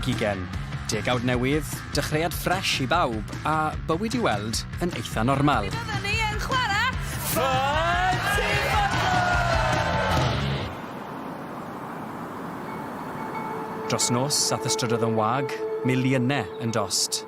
2020, degawd newydd, dechreuad ffresh i bawb, a bywyd i weld yn eitha normal. Byddwn ni yn chwarae Ffan Dros nos, ath ystrydoedd yn wag, miliynau yn dost.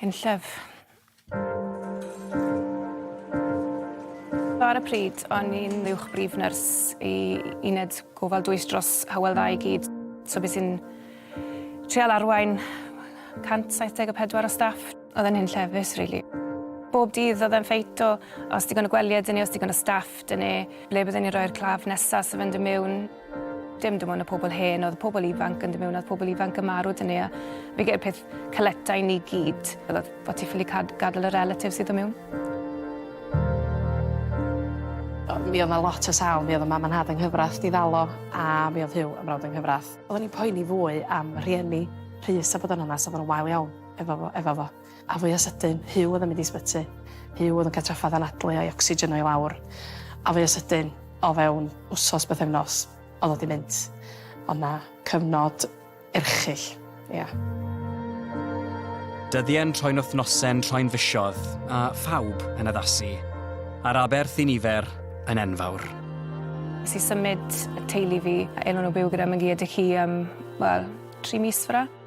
Hen llyf. Ar y pryd, o'n i'n uwch brif nyrs i uned gofal dwys dros Hywel Dda i gyd, so bues i'n treial arwain 174 o staff. Oedd e'n hunllefus rili. Bob dydd oedd e'n ffeit o os digon o gwely 'da ni, os digon o staff 'da ni, ble bydden ni'n rhoi'r claf nesa' 'sa fe'n dod miwn. dim dim ond y pobl hen, oedd pobl ifanc yn dod mewn, oedd pobl ifanc yn marw dyn ni, a fi gael peth caleta i ni gyd, oedd bod ti ffili gadael y relatif sydd o mewn. Mi oedd yna lot o sal, mi oedd y mam yn had yng nghyfraith di ddalo, a mi oedd Hugh yn frawd yng nghyfraith. Oedden ni'n poeni fwy am rhieni Rhys a bod yna, nes oedd yna wael iawn efo fo. A fwya sydyn, Huw oedd yn mynd i sbyty. Huw oedd yn cael trafferth anadlu a'i ocsigen o i lawr. A fwya sydyn, o fewn wsos, bythefnos, oedd o di mynd. Oedd na cyfnod erchyll, ia. Dyddiau'n troi'n wythnosau'n troi'n fisoedd, a phawb yn addasu, a'r aberth i nifer yn enfawr. Nes i symud y teulu fi a Elin o byw gyda Megi a Dickie am, wel, tri mis fyrra.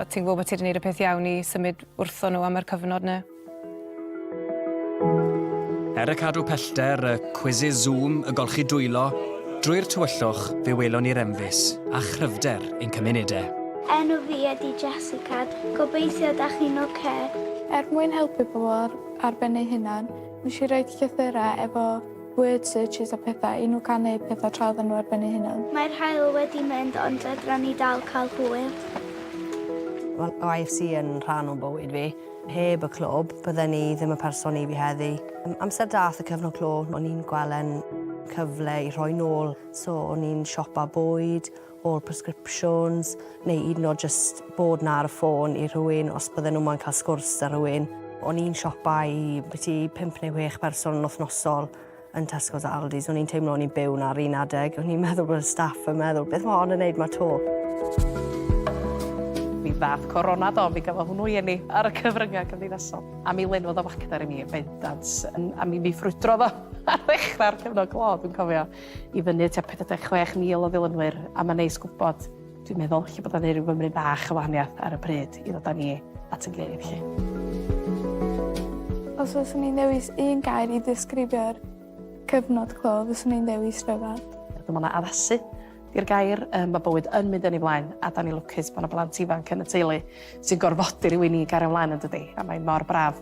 O't ti'n gwybod bod ti wedi gwneud y peth iawn i symud wrthon nhw am yr cyfnod 'na? Er y cadw pellter, y cwisis Zoom, y golchi dwylo, drwy'r tywyllwch, fe welon ni'r enfys a chryfder ein cymuned e. Enw fi ydi Jessica, gobeithio da chi'n ocê. Er mwyn helpu pobl ar ben eu hunan, nes i roid llythyrau efo Word searches a pethau, i nhw cael neud pethau tra oedden nhw ar ben eu hunan. Mae'r haul wedi mynd ond fedran ni dal cael hwyl. Mae IFC yn rhan o'n bywyd fi. Heb y clwb, bydden i ddim y person i fi heddi. Amser dath y cyfnod clo, o'n i'n gwel' e'n cyfle i rhoi nôl, so o'n i'n siopa bwyd, o'r prescriptions, neu 'yd yn o'd jyst bod 'na ar y ffôn i rhywun os bydden nhw moyn cael sgwrs 'da rhywun. O'n i'n siopa i biti pump neu chwech person yn wythnosol yn Tesco's a Aldi's. O'n i'n teimlo o'n i'n byw 'na ar un adeg. O'n i'n meddwl bod y staff yn meddwl, beth mae hon yn neud 'ma 'to? Mi ddath Corona do, mi gafodd hwnnw i eni ar y cyfryngau cymdeithasol, a mi lenwodd o facter i mi yn bendant, a mi ffrwydrodd o ar ddechrau'r cyfnod clo, dwi'n cofio. i fyny tua 46,000 o ddilynwyr a mae'n neis gwybod, dwi'n meddwl, lle bod o'n gwneud rhyw fymryn bach o wahaniaeth ar y pryd i ddod â ni at ein gilydd 'lly. Os fyswn i'n dewis un gair i ddisgrifio'r cyfnod clo fyswn i'n dewis rhyfedd. Dwi'n meddwl na addasu 'di'r gair. Yym ma' bywyd yn mynd yn ei flaen a 'dan ni'n lwcus bod 'na blant ifanc yn y teulu sy'n gorfodi rywun i gario mlaen yndydi? A mae mor braf.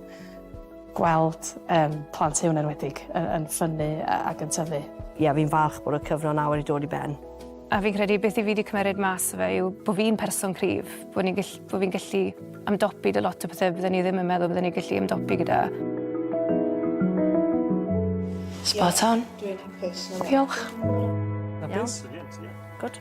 Gweld yym plant Huw yn enwedig yn yn ffynnu ag yn tyfu. Ie fi'n falch bod y cyfnod nawr wedi dod i ben. A fi'n credu beth i fi 'di cymeryd mas o fe yw bo' fi'n person cryf, bo' ni'n gell- bo' fi'n gallu ymdopi 'da lot o pethe bydden ni ddim yn meddwl bydden ni gallu ymdopi gyda. Spot on. Dwi'n hapus. Diolch. Hapus? Good.